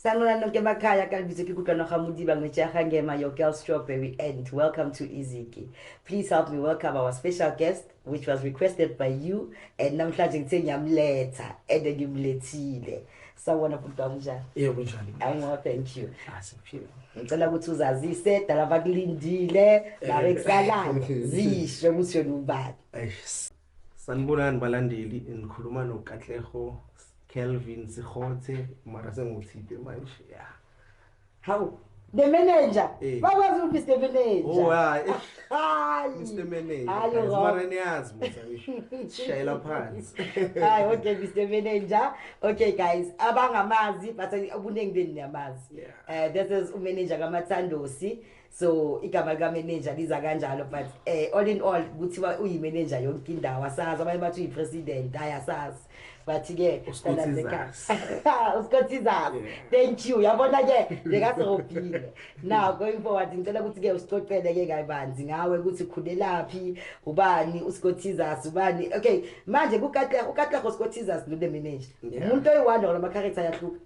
Sanolano Kemakaya Kalbizuki Kutlano Hamudi Bangmecha Hangema, your girl Strawberry, and welcome to Iziki. Please help me welcome our special guest, which was requested by you, and namhlanje ngithe ngiyamletha, and ngimlethile. Sawona bhuti wami njani? Yebo kunjani? I'm well, thank you. Asiphile. Ngicela ukuthi uzazise dala bakulindile, babekusalayo, zisho ukuthi wena ubani. Eish. Sanibonani balandeli, nikhuluma noKatleho Kelvin Sikhothe mara senguthide manje. Yeah. Hawu The manager. Eh. Bakwazi ukuthi Mr manager. Oh hayi. Hayi. Mr manager. Hayi Guys, wrong. mara niyazi musa ngisho. Sishayela phansi. Hayi okay Mr manager. Okay guys, abangamazi but ubuningi benu niyamazi. Yeah. Eh this is umanager kaMathandosi. so igama lika manager liza kanjalo but eh all in all kuthiwa uyi manager yonke indawo asazi abanye bathi uyi president hayi asazi but ke uskothiza uskothiza thank you yabona ke lekasobhile now going forward ngicela ukuthi ke usicocele ke kayibanzi ngawe ukuthi khulelaphi ubani uskothiza ubani okay manje kukatla ukatla uskothiza nule manager umuntu oyi one or ama character yahluka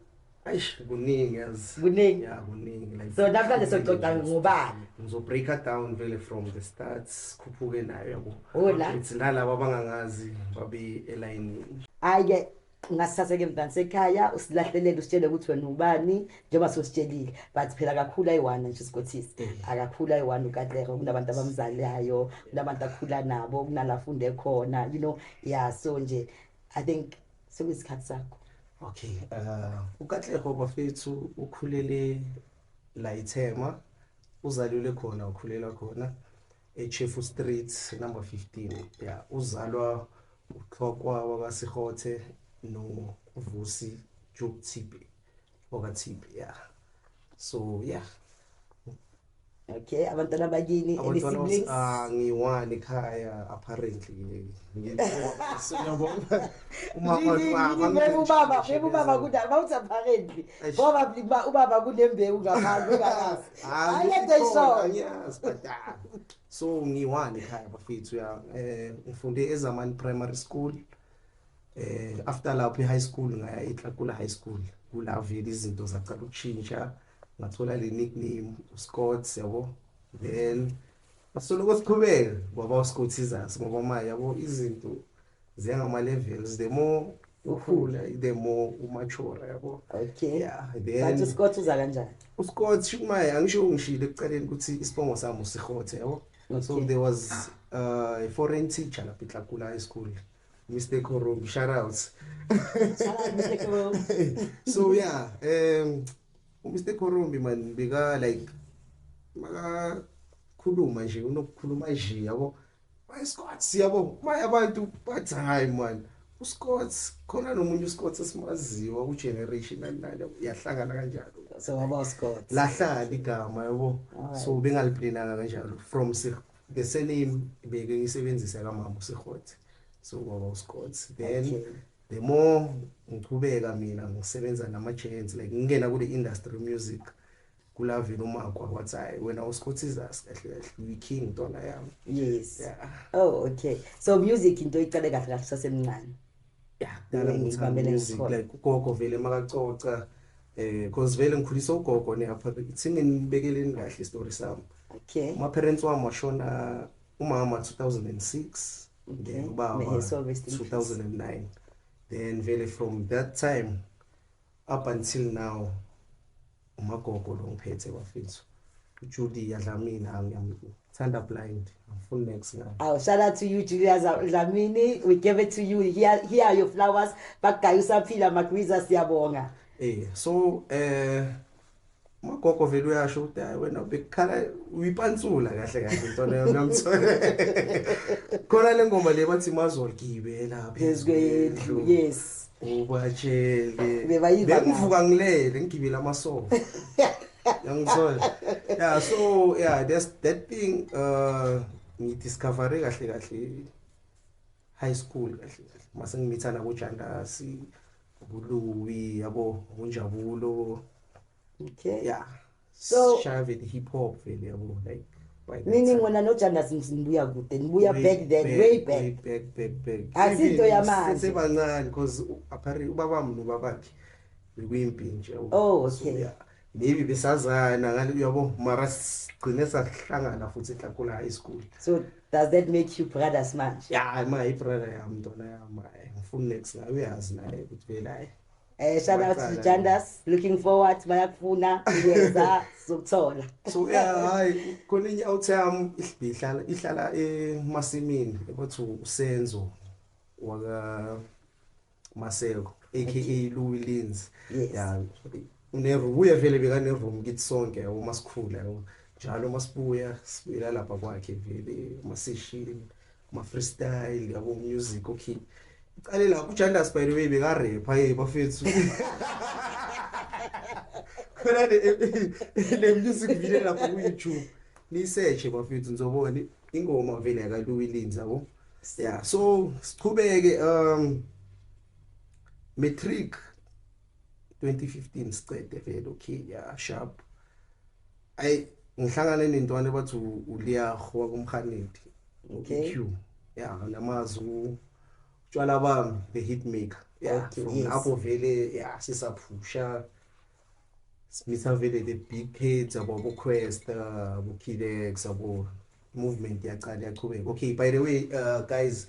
Eish kuningi yazi. Kuningi. Yeah kuningi like. So namhlanje soxoxa ngobani? Ngizo breaker down vele from the start sikhuphuke nayo yabo. Hola. It's nalabo abangangazi babe elayini. Ayike ngasithatheke emntwana sekhaya usilahlelele usitshele ukuthi wena ubani njengoba sositshelile but phela akakhulu ayi-one nje sigothisi mm. akakhulu ayi-one ukatlero kunabantu abamzalayo kunabantu akhula nabo kunala funde khona you know ya so nje i think sekuyisikhathi sakho okay uh, ukatlego bafethu ukhulele la ithema uzalelwe khona ukhulela khona echefu street number 15 ya uzalwa uxhokwa wakasihothe novusi jokuthibe wakathibe ya so ya yeah. okay abantwana bakini any siblings ah ngiwani ekhaya apparently ubaba ubaba kudala bawuthi apparently ngoba bliba ubaba kunembewu ngaphandle ngakazi ayede so ah, so ngiwani ekhaya bafethu ya eh ngifunde ezamani primary school eh after lapho high school ngaya eTlakula high school kula vele izinto zacala ukushintsha ngathola le nickname uScott yabo then asoloko siqhubeka ngoba uScott izasi ngoba manje yabo izinto ziyangama levels the more ukhula the more umature yabo okay yeah then but uScott uza kanjani uScott shumaye angisho ungishilo ekuqaleni ukuthi isibongo sami uSihothe yabo so there was uh, a foreign teacher lapha eTlakula High School Mr Korum shout out shout out Mr Korum so yeah um Mr Korum man bika like maka khuluma nje unokukhuluma nje yabo my Scott siyabo my abantu but hayi man uScott khona nomunye uScott esimaziwa ku generation nani uyahlangana kanjalo so waba uScott lahlala igama yabo so bengaliplananga kanjalo from the surname beke ngisebenzisa ka mama uSikhothi so ngoba uSikhothi then okay. the more ngichubeka mina ngisebenza nama chance like ngingena kule industry music kulavela umakwa wathi hayi wena uSikhothi izasi kahle kahle uyi king dona yami yes yeah. oh okay so music into iqale kahle kahle sasemncane Dala ngithanda music like ugogo vele makacoca eh cause vele ngikhulisa ugogo ne apha ithini nibekeleni kahle story sami okay ma parents wami washona umama 2006 then ubaba 2009 then vele from that time up until now Umagogo lo ngiphethe bafethu. Julia Dlamini angithanda blind angifuni next ngayo oh shout out to you Julia Dlamini we give it to you here here are your flowers bagaya usaphila magwiza siyabonga eh so eh magogo vele uyasho ukuthi hayi wena bekukhala uyipansula kahle kahle into leyo namthola khona lengoma le bathi mazolgibela phezulu yes ubatshele Bebayiva ngani? bengivuka ngilele ngigibele amasoka yangithola yeah so yeah that's that thing uh ngidiscovere kahle kahle high school kahle kahle mase ngimithana kojandasi ubuluwi yabo ngonjabulo okay yeah so shaya vele hip hop vele yabo like nini ngona nojandas nibuya kude nibuya back then way back back back back asinto yamanje sebancane because apparently ubaba mno babakhe bekuyimpi nje oh okay yeah maybe besazana ngale uyabo mara sigcine sahlangana futhi ehlakula high school so does that make you brothers manje ya ma i brother yami ntona yami ngifuna next ngabe uyazi naye ukuthi vele hayi Eh shout out to Jandas looking forward bayakufuna yeza sizokuthola. So yeah hayi khona inye awutham ihlala ihlala emasimini ebathi usenzo waka Maseko aka Louis Lins. Yeah. Unerubuye vele bekaneroom kithi sonke uma sikhula yabo. Njalo masibuya sibuyela lapha kwakhe vele masishini. Kuma freestyle yabo music okay. Iqale la ku Jandas by the way beka rapper hey bafethu. Khona le music video lapha ku YouTube. Ni search bafethu nizobona ingoma vele ka Luwilins yabo. Yeah so siqhubeke um matric 2015 sicede vele okay ya sharp ay ngihlangane nentwana bathi uliyaho wakumhanidi okay q ya namazu tshwala bami the hit maker yeah okay, from yes. apho vele ya sisaphusha simitha vele the big kids abo bo quest abo kidex abo movement yaqala yaqhubeka okay by the way uh, guys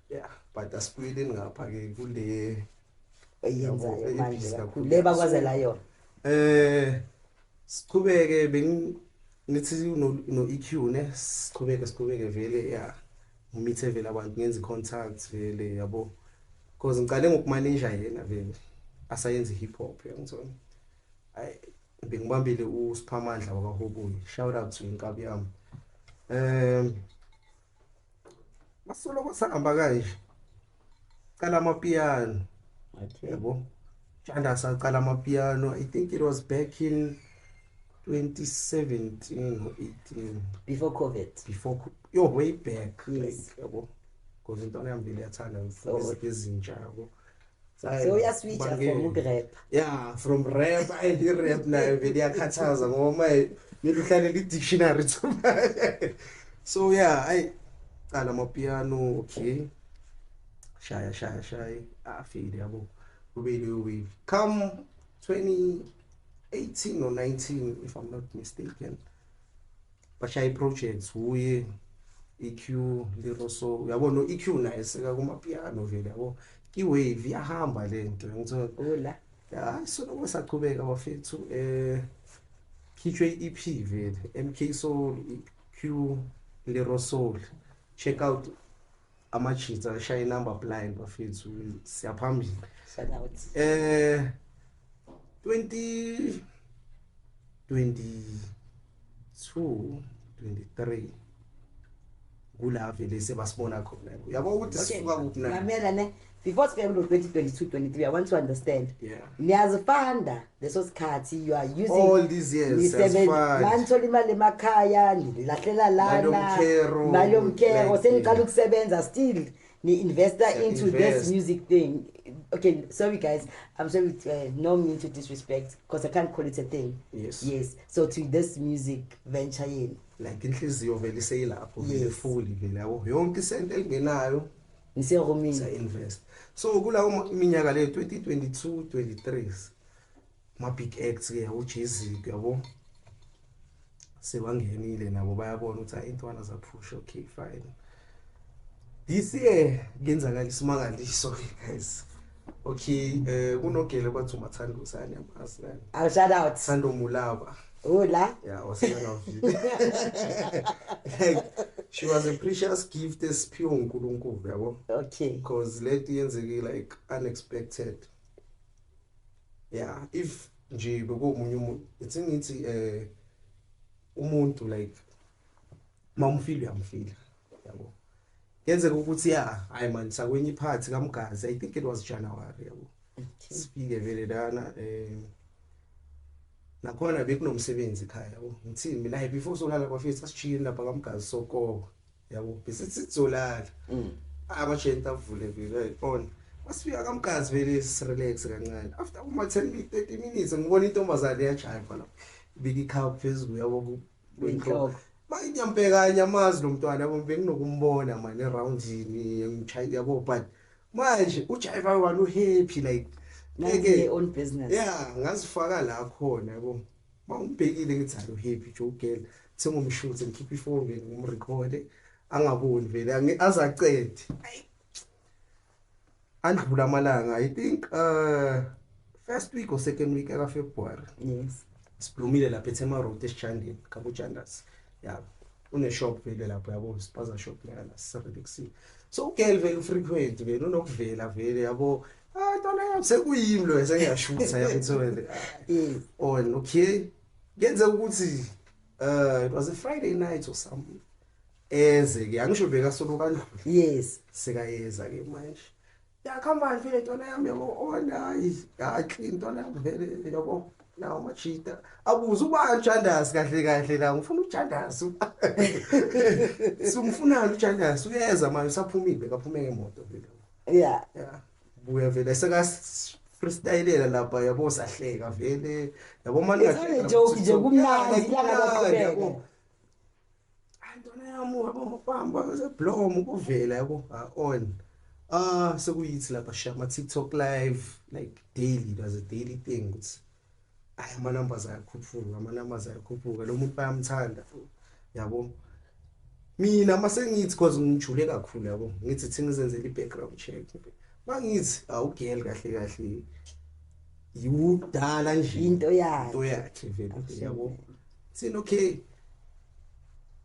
yeah but asibuyeleni ngapha ke kule eyenzayo manje kakhulu le bakwazela yona eh siqhubeke beng nithi no no EQ ne siqhubeke siqhubeke vele yeah ngimithe vele abantu ngenza contact vele yabo because ngiqale ngokumanager yena vele asayenze hip hop yangizona ay bengibambile uSiphamandla wakaHobuyi shout out to inkabi yami um masoloko sahamba kanje cala amapiano yebo janda saqala amapiano i think it was back in 2017 or 18 before covid before yo way back yes. like yebo because intwana yami vele yathanda izinto ezintsha yabo so uyaswitcha from ukurap yeah from rap and irap nayo vele iyakhathaza ngoba maye mele uhlale li-dictionary so yeah ayi cala amapiano okay shaya shaya shaya afile yabo kube leyo wave come 2018 or 19 if i'm not mistaken bashaya i-projects wuye EQ liroso uyabo no EQ naye seka kuma piano vele yabo iwave iyahamba lento ngithe ola hayi so lokho saqhubeka bafethu eh khitshwe i-EP vele MK Soul EQ liroso check out ama cheats ashaya number blind bafethu siyaphambili shout out eh 20 22 23 kula vele sebasibona khona uyabo ukuthi sisuka kuphi na ngamela ne before sibheke kulo 2022 23 i want to understand yeah niyazifanda leso sikhathi you are using all these years manithola imali emakhaya nilahlela lana nayo mkero seniqala ukusebenza still ni investor yeah, into invest. this music thing okay sorry guys i'm sorry to, uh, no mean to disrespect because i can't call it a thing yes yes so to this music venture yini like inhliziyo vele seyilapho vele fully vele yonke isento engenayo ngise roaming sa invest so kulawo minyaka le 2022 23 ma big acts ke yabo Jay-Z yabo sebangenile nabo bayabona ukuthi ayintwana zaphusha okay fine this year kenzakala isimakaliso guys Okay, eh kunogele kwathi umathanda usani yamazi la. Aw shout out. Thando Mulaba. Ula. Yeah, waseyona video. Like she was a precious gift esiphiwe uNkulunkulu yabo. Okay. Because lento yenzeke like unexpected. Yeah, if nje bekumunye umuntu, it's ngithi eh umuntu like mamufile uyamufila yabo yenzeka ukuthi ya hayi manje sakwenye iphathi kamgazi i think it was January yabo sifike vele lana eh nakhona bekunomsebenzi ekhaya yabo ngithini mina hayi before solala kwafike sasijiyeni lapha kamgazi sokoko yabo bese sizolala mm. abashenta avule vele on wasifika kamgazi vele sirelax kancane after uma 10 minutes 30 minutes ngibona intombazane yajayiva lapho bika ikhaya phezulu yabo Benhloko. Manje ngiyampekanya amazi lo mntwana yabo benginokumbona manje eroundini ngimchaya yabo but manje uJaiva walo happy like ngeke on business. Yeah, ngazifaka la khona yabo. Mawumbhekile ngithi alo happy Joe girl. Sengumshuthe ngikhipha ifoni ngimrecord angaboni vele azacede. Ayi andlula amalanga i think uh first week or second week aka February yes siblumile lapha eThema Road eSichandini kaBujandas yabo une shop vele lapho yabo spaza shop lana sisabekisi so ugel vele ufrequent vele unokuvela vele yabo ah ntwana yami sekuyimi lo esengiyashutha yabethu vele mm. on okay ngenze ukuthi uh it was a friday night or something Eze ke angisho beka solo kanjani. Yes. Seka yeza ke manje. Yakha manje le ntwana yami yabo ona yakhe intwana yami vele yabo. Nawo machita. Abuza uba ujandazi kahle kahle la ngifuna ujandazi. Sumfuna ujandazi uyeza manje usaphumile kaphumeke imoto vele. Yeah. Yeah. Buya vele seka freestylela lapha yabo sahleka vele yabo manje. It's only joke nje kumnandi ilanga laqhubeka. Antwana yami wabomfamba seblomo kuvela yabo on. Ah sekuyithi lapha shama TikTok live like daily does a daily thing ukuthi ay ama numbers ayakhuphuka ama numbers ayakhuphuka lo muntu bayamthanda yabo mina masengithi cause ngijule kakhulu yabo ngithi thina izenzele i-background check mangithi awugel kahle kahle yiwudala nje into yakhe into yakhe vele yabo Thina okay.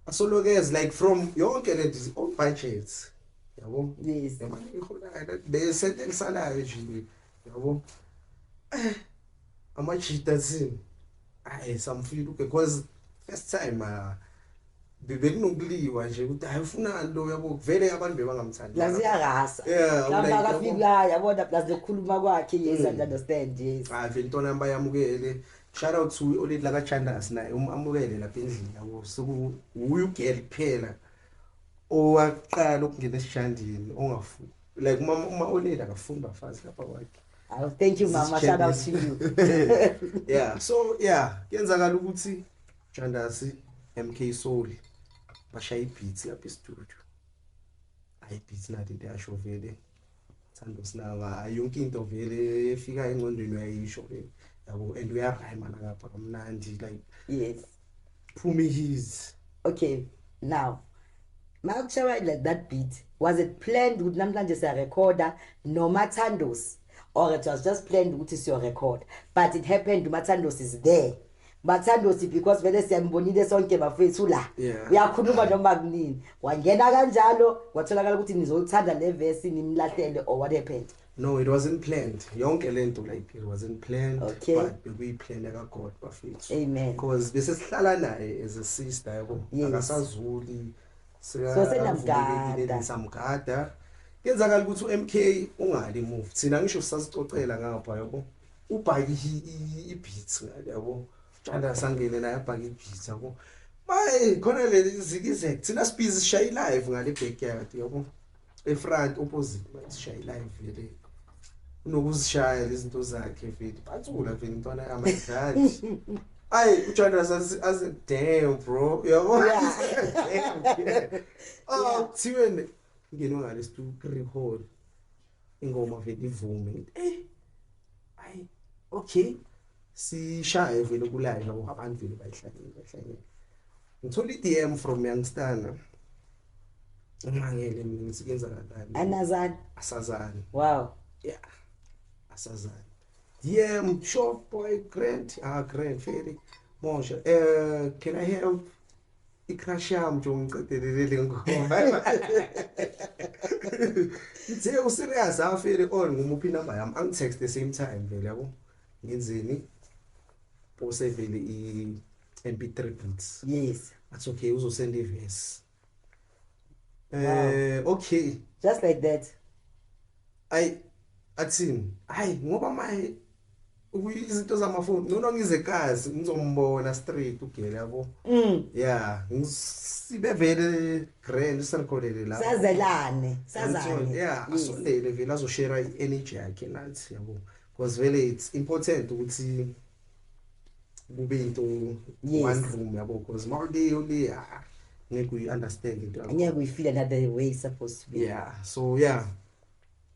Asolokez like from yonke le on budgets. Yabo? Yes. Yabo ikhona la bese elisalayo nje. Yabo? Eh ama cheater thina. Ayi samfika because first time uh, bebekunokuliwa nje ukuthi hayi ufunani lo yabo kuvele abantu bebangamthandi la ziyakasa lamba kafika yabona plus lokukhuluma kwakhe yes mm. and understand yes hayi vele intona yami bayamukele Shout out to oLady Laka Chandas naye umamukele lapha endlini awusuku wuye ugirl kuphela owaqala ukungena esijandini ongafu like uma uma oLady akafuni bafazi lapha kwakhe. Oh, thank you mama shout out to you. yeah, so yeah, kuyenzakala ukuthi Chandas MK Soul bashaya ibeats lapha e-studio. Ayi beats nathi into yasho vele. Thando Sinaba hayi yonke into vele efika engqondweni uyayisho ke yabo and uyarhyma nangapha kamnandi like yes phumi his okay now makushaya like that beat was it planned ukuthi namhlanje siya recorder noma Thandos or it was just planned ukuthi siyo record but it happened uMathandos is there bathandosi because vele siyanibonile sonke bafethu la yeah. uyakhuluma noma kunini wangena kanjalo watholakala ukuthi nizolithanda le verse nimlahlele or what happened no it wasn't planned yonke lento like it wasn't planned okay. but bekuyiplane ka God bafethu amen because bese sihlala naye as a sister yabo yes. akasazuli so senamgada samgada yenzakala ukuthi uMK ungali move thina ngisho sasicocela ngapha yabo ubhaki ibeats ngale yabo Janda sangene naye abhaki ibeats yabo Bayi khona le zikizek thina sibhizi sishaye live ngale backyard yabo efront opposite sishaye live vele unokuzishaya lezinto zakhe vele bathula vele intwana yamadlali Ay, uJohn as as damn bro. Uyabo? Yeah. Oh, thiwe ngene ngale stu record. ingoma vele ivume eh ay okay sishaye vele kulayini ngoba abantu vele bayihlangene bayihlangene ngithola i-dm from youngstana ngimangele mina ngisikenza kanjani anazani asazani wow yeah asazani dm shop boy grant ah grant very mosha uh, can i help I crush yam nje ungiqedelele lengoma. Ngithe u serious afere all ngumuphi number yam angi text the same time vele yabo. Ngenzeni? Pose vele i MP3 beats. Yes. That's okay uzosenda iverse. Eh okay. Just like that. Ay athini? Ay ngoba my izinto zamafoni ngcono ngize kazi ngizombona straight ugele yabo mm. ya sibe vele grand sirikholele la sazelane sazane ya mm. asondele vele azoshare i-energy yakhe nathi yabo because vele it's important ukuthi kube into one room yabo because uma uleyo le ah, ngeke uyi-understand into yakho ngeke uyifile another way supposed to be yeah so yeah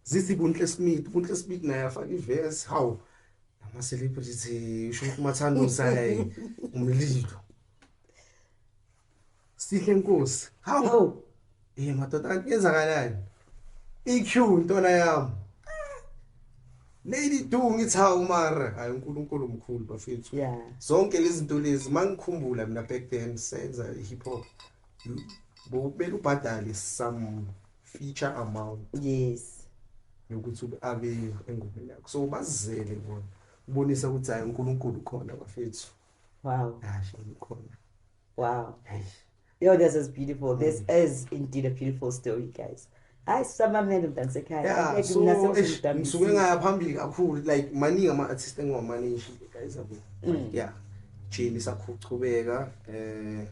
zithi kunhle smith kunhle smith naye afaka iverse hawu ama celebrity usho ukuthi umathanda usayi umlilo sihle nkosi hawu eh madoda yenzakalani iq intona yami Lady Du ngithi hawu mara hayi uNkulunkulu omkhulu bafethu yeah. zonke lezi zinto lezi mangikhumbula mina back then senza hip hop bobele ubhadale some feature amount yes yokuthi ube abeyo engomeni yakho so ubazele bona ubonisa ukuthi hayi uNkulunkulu khona bafethu wow hayi ukhona wow yo this is beautiful mm. this is indeed a beautiful story guys hayi sisamamele mntana sekhaya ngisuke ngaya phambili kakhulu like maningi ama-artist engiwamaningi guys abo mm. yeah jini sakhuchubeka um eh,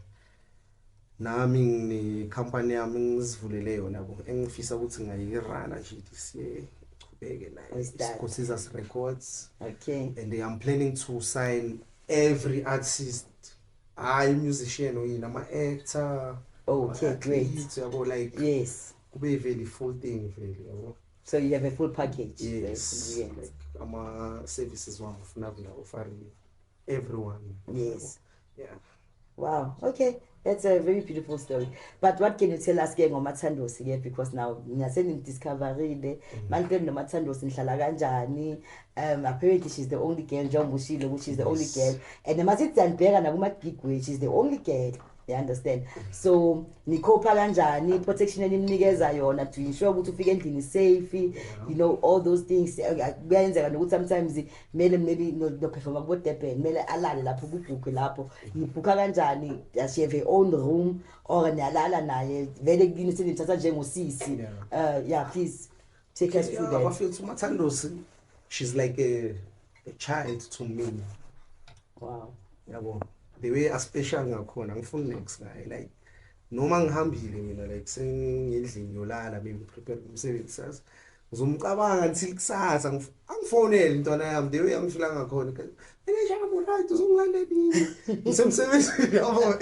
nami nginekhampani yami ngizivulele yona bo engifisa ukuthi ngayirana nje this year iqhubeke nayo Yes, that. isikhosizas records okay and i'm planning to sign every artist hayi musician oyini ama-actor Okay, ama-athletes, yabo like yes kube yiveli full thing vele yabo so you have a full package yes yes like ama-services wami ufuna kula ofarini everyone Yes. yeah Wow, okay. That's a very beautiful story. But what can you tell us ke ngomathandosi ke because now ngase ni discoverile mm. manje nomathandosi nihlala kanjani? Um apparently she's the only girl njengoba ushilo ukuthi she's the only girl. And masithi siyandibheka nakuma big way she's the only girl. You understand? So nikhopha kanjani protection enimnikeza yona to ensure ukuthi ufike endlini safe, you know all those things. Kuyenzeka nokuthi sometimes mele maybe noperforma kubo Durban mele alale lapho kubhukhe lapho nibhukha kanjani does she have her own room or niyalala naye vele kini sinithatha njengosisi yeah. uh yeah please take us through that I feel to Mathandosi she's like a, a child to me wow yabo the way a special ngakhona ngifuna next ngaye like noma ngihambile mina like sengendlini yolala bengiprepare umsebenzi sazi Uzomcabanga until kusasa ngif- angifonele intwana yami the way angishila ngakhona mina shamo right uzongilanda nini ngisemsebenzini yabo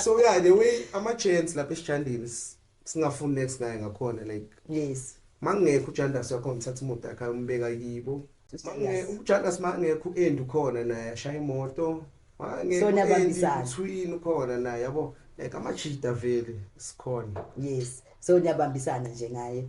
so yeah the way ama chance lapha esijandini s- singafuni next ngaye ngakhona like yes mangekho ujandas yakho ngithatha imoto yakhe ayombeka kibo Mange- ujandas mangekho u-end ukhona naye ashaya imoto So niyabambisana. twin ukhona naye yabo like amajida vele sikhona yes so niyabambisana nje ngaye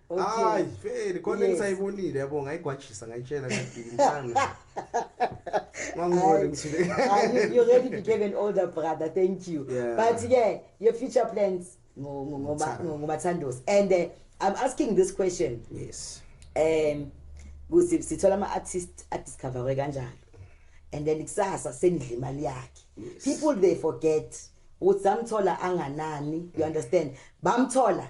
hayi vele khona engisayibonile yabo ngayigwajisa ngayitshela ngidikimsana ngangibone ngithule you already became an older brother thank you yeah. but ke your future plans ngomathandos and uh, i'm asking this question yes um kuthi sithola ama artist adiscoverwe kanjalo and then kusasa senidla imali yakhe people they forget ukuthi samthola anganani you understand bamthola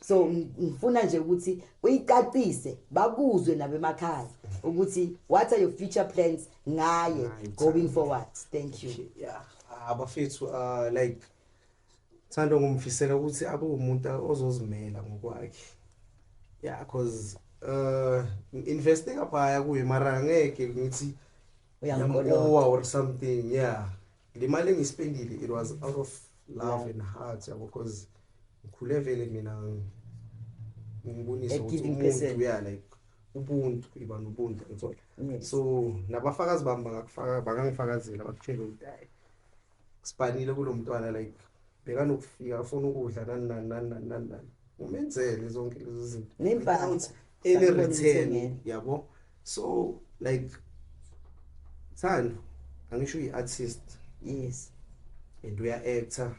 so ngifuna nje ukuthi uyicacise bakuzwe nabemakhaya ukuthi what are your future plans ngaye going forward thank you yeah abafethu uh, like thando ngumfisela ukuthi abe umuntu ozozimela ngokwakhe yeah cause uh investing aphaya kuye mara ngeke ngithi uyangikolowa or something yeah Le mali engispendile it was out of love and heart yabo because ngikhule vele mina ngibonisa ukuthi umuntu uya like ubuntu iba nobuntu ngithola so nabafakazi bami bangakufaka bangangifakazela bakutshela ukuthi hayi sibanile kulomntwana like bekanokufika afuna ukudla nani nani nani nani nani umenzele zonke lezo zinto nempahla ele return yabo so like thando angisho uyi artist yes and uya actor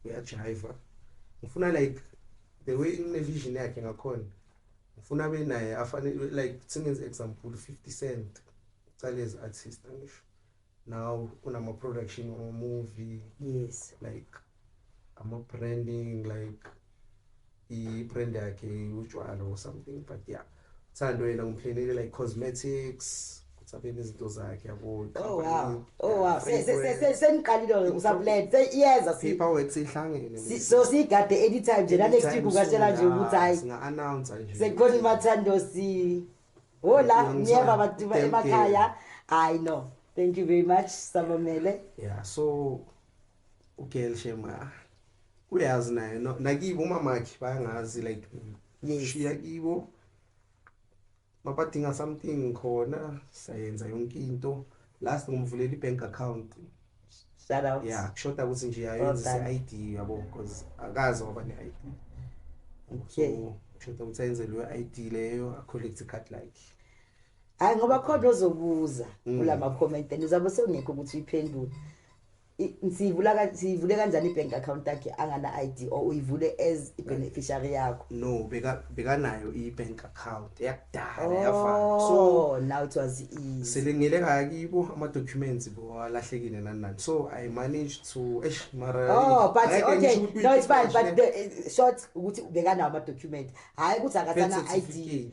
uya jiva ngifuna like the way ine vision yakhe ngakhona ngifuna be naye afane like singenze example 50 cent cale as artist angisho now kunama production or movie yes like ama branding like i brand yakhe utshwala or something but yeah uthando yena ngimphlenele like cosmetics sabeni izinto zakhe yabo oh wow oh wow seniqalile usablend seyiyeza paperwork sihlangene so sigade anytime nje la next week ukatshela nje ukuthi hayi singa-announce nje sekukhona imathando si Hola, niyeva badiba emakhaya. I know. Thank you very much, Sabamele. Yeah, so ugirl shema uyazi naye no nakibo umamakhe bayangazi like shiya kibo mabadinga something khona sayenza yonke into Last ngomvulela ibank account. Shout out. Yeah, kushoda ukuthi nje ayenzise ID yabo because akazi waba ne ID. So kushoda ukuthi ayenzelwe ID leyo a collect card like. Hayi ngoba khona ozobuza mm. kulama comment and uzabe sewungekho ukuthi uyiphendule. Siyivula ka siyivule kanjani ibank account yakhe angana ID or uyivule as ibeneficiary yakho? No, beka bekanayo ibank account yakudala oh, yavala. So now it was easy. Selengile kakibo ama documents bo alahlekile nani nani. So I managed to eish mara Oh, but okay. No, it's fine, but the eh, short ukuthi bekanawo ama document. Hayi ukuthi akasana ID.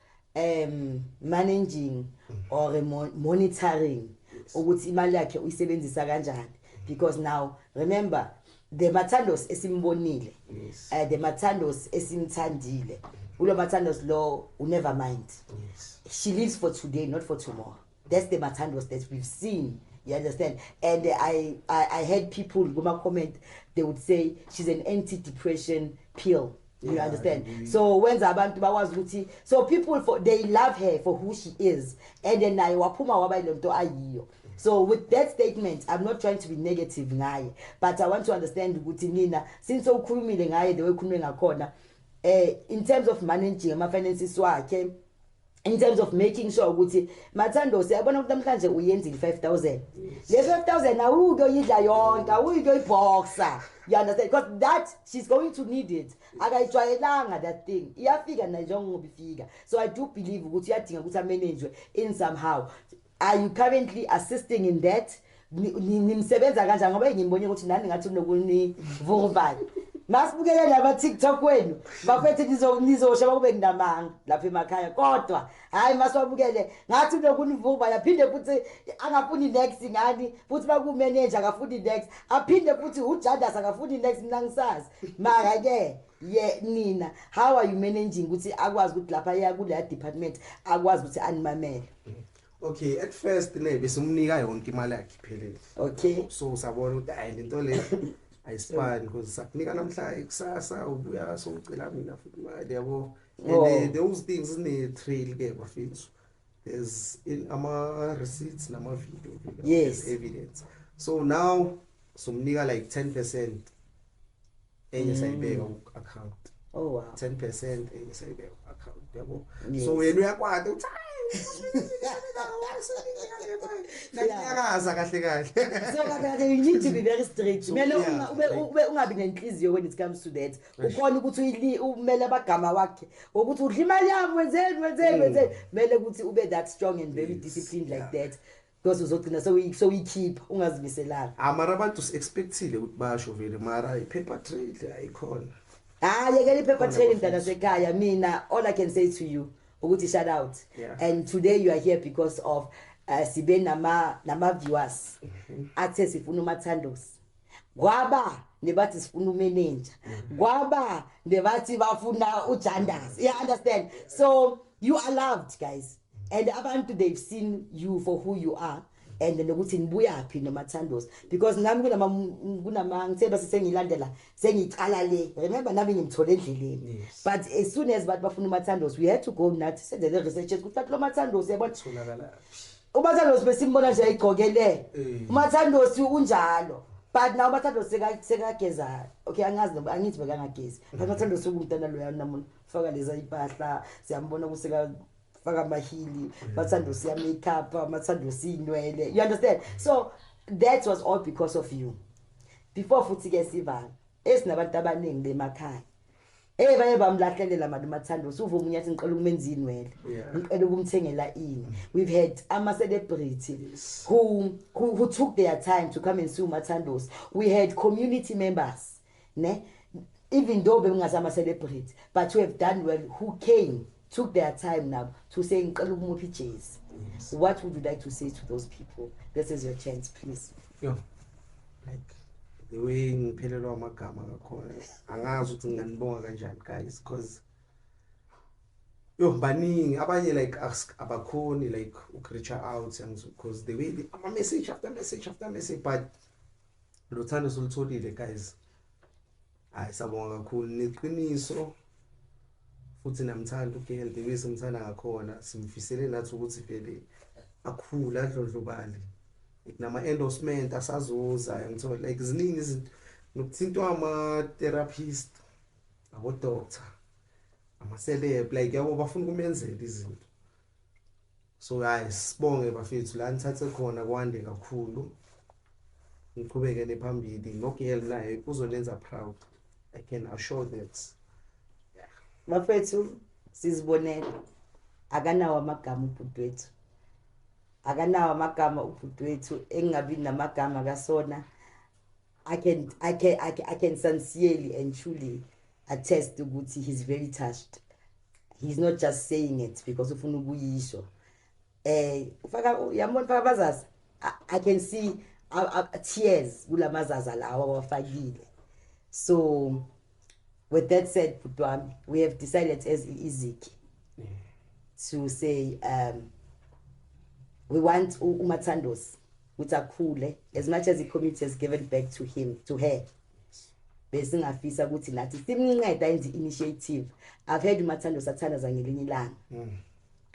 um managing or monitoring ukuthi imali yakhe uyisebenzisa kanjani because now remember the mathandos esimbonile yes. uh, the mathandos esimthandile ulo mathandos lo unever mind yes. she lives for today not for tomorrow that's the mathandos that we've seen you understand and I, I, I had people kuma comment they would say she's an anti depression pill you yeah, understand mm-hmm. so wenza abantu bakwazi ukuthi so people for they love her for who she is and then naye waphuma waba ilento ayiyo so with that statement i'm not trying to be negative ngaye but i want to understand ukuthi nina since ukhulumile ngaye the way ukhulume ngakhona eh in terms of managing ama finances wakhe in terms of making sure ukuthi mathando siyabona ukuthi namhlanje uyenzile 5000 le 5000 awuke uyidla yonke awuke uyiboxa you understand because that she's going to need it akayijwayelanga that thing iyafika nayo njengoba ifika so i do believe ukuthi uyadinga ukuthi amenenjwe in somehow Are you currently assisting in that? Nimsebenza kanjani ngoba ngimbone ukuthi nani ngathi unokuni vuruvayo. Masibukele laba TikTok wenu bafethe nizosha bakube kunamanga lapha emakhaya kodwa hayi masiwabukele ngathi unokunivuba yaphinde futhi angafuni next ngani futhi bakumeneja akafuni next aphinde futhi ujadas akafuni next mina ngisazi maka ke ye nina how are you managing ukuthi akwazi ukuthi lapha ya kule department akwazi ukuthi animamele okay at first ne besumnika yonke imali yakhe iphelele okay so usabona ukuthi hayi lento le ayisifani because sakunika namhla ikusasa ubuya so ucela mina futhi imali yabo and oh. those things zine trail ke bafethu there's in ama receipts nama video yes evidence so now somnika like 10% enye sayibeka ku account oh wow 10% enye sayibeka ku account yabo so wena uyakwata uthi nanyakaza kahle kahle so kahle kahle you need to be very straight kumele ube ungabi nenhliziyo when it comes to that ukhona ukuthi umele abagama wakhe ukuthi udla imali yami wenzeni wenzeni mm. wenzeni kumele ukuthi ube that strong and very disciplined like that Because uzogcina sewuyi- sewuyikhipha ungazimiselanga Ah mara abantu si-expectile ukuthi basho vele mara i-paper trail ayikhona. hayi Ah, yekela i-paper Khona trail bafethu. mntana sekhaya mina all i can say to you ukuthi shout out Yeah. and today you are here because of uh, sibe nama- nama-viewers Mhm. athe sifuna umathandosi kwaba nebathi sifuna umenenja Mhm. kwaba nebathi bafuna ujandas you understand so you are loved guys and abantu they've seen you for who you are and nokuthi nibuyaphi nomathandosi because nami kunama kunama ngithemba sisengilandela sengicala le remember nami ngimthole endleleni but as soon as bathi bafuna umathandosi we had to go nathi senze le research ukuthi bathi lo mathandosi yabona tholakala umathandosi besimbona nje ayigqokele eh. umathandosi unjalo but nawo umathandosi sekageza okay angazi angithi bekangagezi but umathandosi ukumntana loya namuntu faka leza impahla siyambona ukuthi ka faka amahili bathanda usiya make up bathanda usinwele you understand so that was all because of you before futhi ke sivala esinabantu abaningi bemakhaya Eh baye bamlahlelela manje umathando usuva umunye athi ngicela ukumenza inwele ngicela ukumthengela ini we've had ama celebrity who, who who took their time to come and see umathandos we had community members ne even though bebingazama celebrate but you have done well who came took their time nabo to say ngicela ukumupha ijezi what would you like to say to those people this is your chance please yo like the way ngiphelelwa amagama ngakhona angazi ukuthi nginganibonga kanjani guys because yo baningi abanye like ask abakhoni like ukureacha out because the way ama-message after message after message but Lothando solutholile guys. Hayi sabonga kakhulu neqiniso futhi namthanda uGirl Baby simthanda ngakhona simfisele nathi ukuthi vele akhula adlondlobale nama endorsement asazoza ngithola like ziningi izinto nokuthintwa ama therapist abo doctor ama celeb like yabo bafuna kumenzela izinto So guys sibonge bafethu la nithathe khona kwande kakhulu niqhubekele phambili nogirl naye uzonenza proud i can assure that bafethu sizibonele akanawo amagama ubhuti wethu akanawo amagama ubhuti wethu engingabi namagama kasona I can I can I can, I can sincerely and truly attest ukuthi he's very touched. He's not just saying it because ufuna ukuyisho. Eh ufaka yambona faka bazazi. I, I can see uh, uh, tears kulamazaza lawa wafakile. So with that said bhuti wami we have decided as iziki to say um we want umathandosi ukuthi akhule as much as the community has given back to him to her besingafisa ukuthi nathi simnceda enze initiative i've heard umathando sathandaza ngelinye ilanga mm.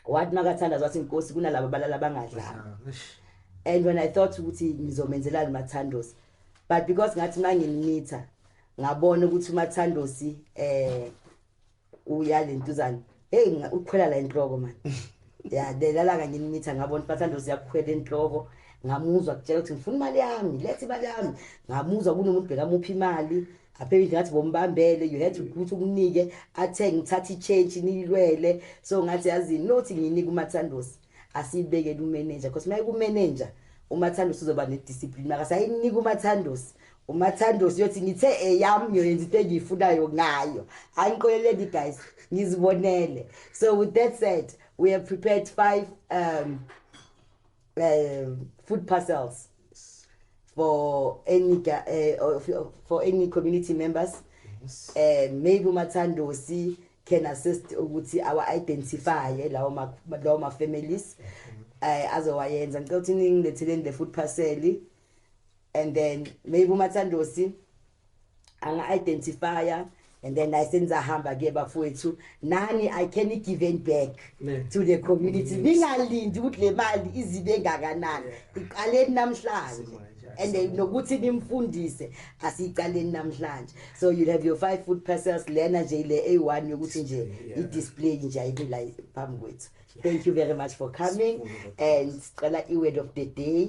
what makathandaza wathi inkosi kunalabo balala bangadlanga and when i thought ukuthi ngizomenzelani mathandos but because ngathi manginimitha ngabona ukuthi umathandosi eh uya lentuzana hey ukhwela la enhloko man ya delala kanye imitha ngabona umathandosi yakhwela enhloko ngamuzwa kutshela ukuthi ngifuna imali yami lethe imali yami ngamuzwa kunomuntu bekamuphi imali aphela indlu ngathi bombambele you had to ukuthi ukunike athenge ngithathe i-change niyilwele so ngathi yazini nothi nginike umathandosi asiyibekele umeneja because uma ikumeneja umathandosi uzoba nediscipline makasayinika umathandosi umathandos uyothi ngithe eyam ngiyoyenza into engiyifunayo ngayo angiqoleleni guys ngizibonele so with that said we have prepared five um, um, food parcels for any uh, for any community members yes. and um, maybe umathandosi can assist ukuthi awa identify lawo ma lawo ma families mm -hmm. eh azowayenza ngicela ukuthi ningilethele le food parcel and then maybe umathandosi anga-identifya and then naye senizahamba ke bafowethu nani i can give it back ne. to the community ningalindi ukuthi le mali izibe ngakanani iqaleni namhlanje and then nokuthi nimfundise asiyiqaleni namhlanje so you'll have your five food parcels lena nje ile A1 yokuthi nje i-display nje ayikula phambi kwethu thank you very much for coming and sicela i-word of the day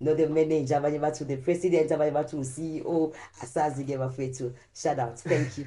no the manager abanye bathi the president abanye bathi u-ceo asazi ke bafethu shout out thank you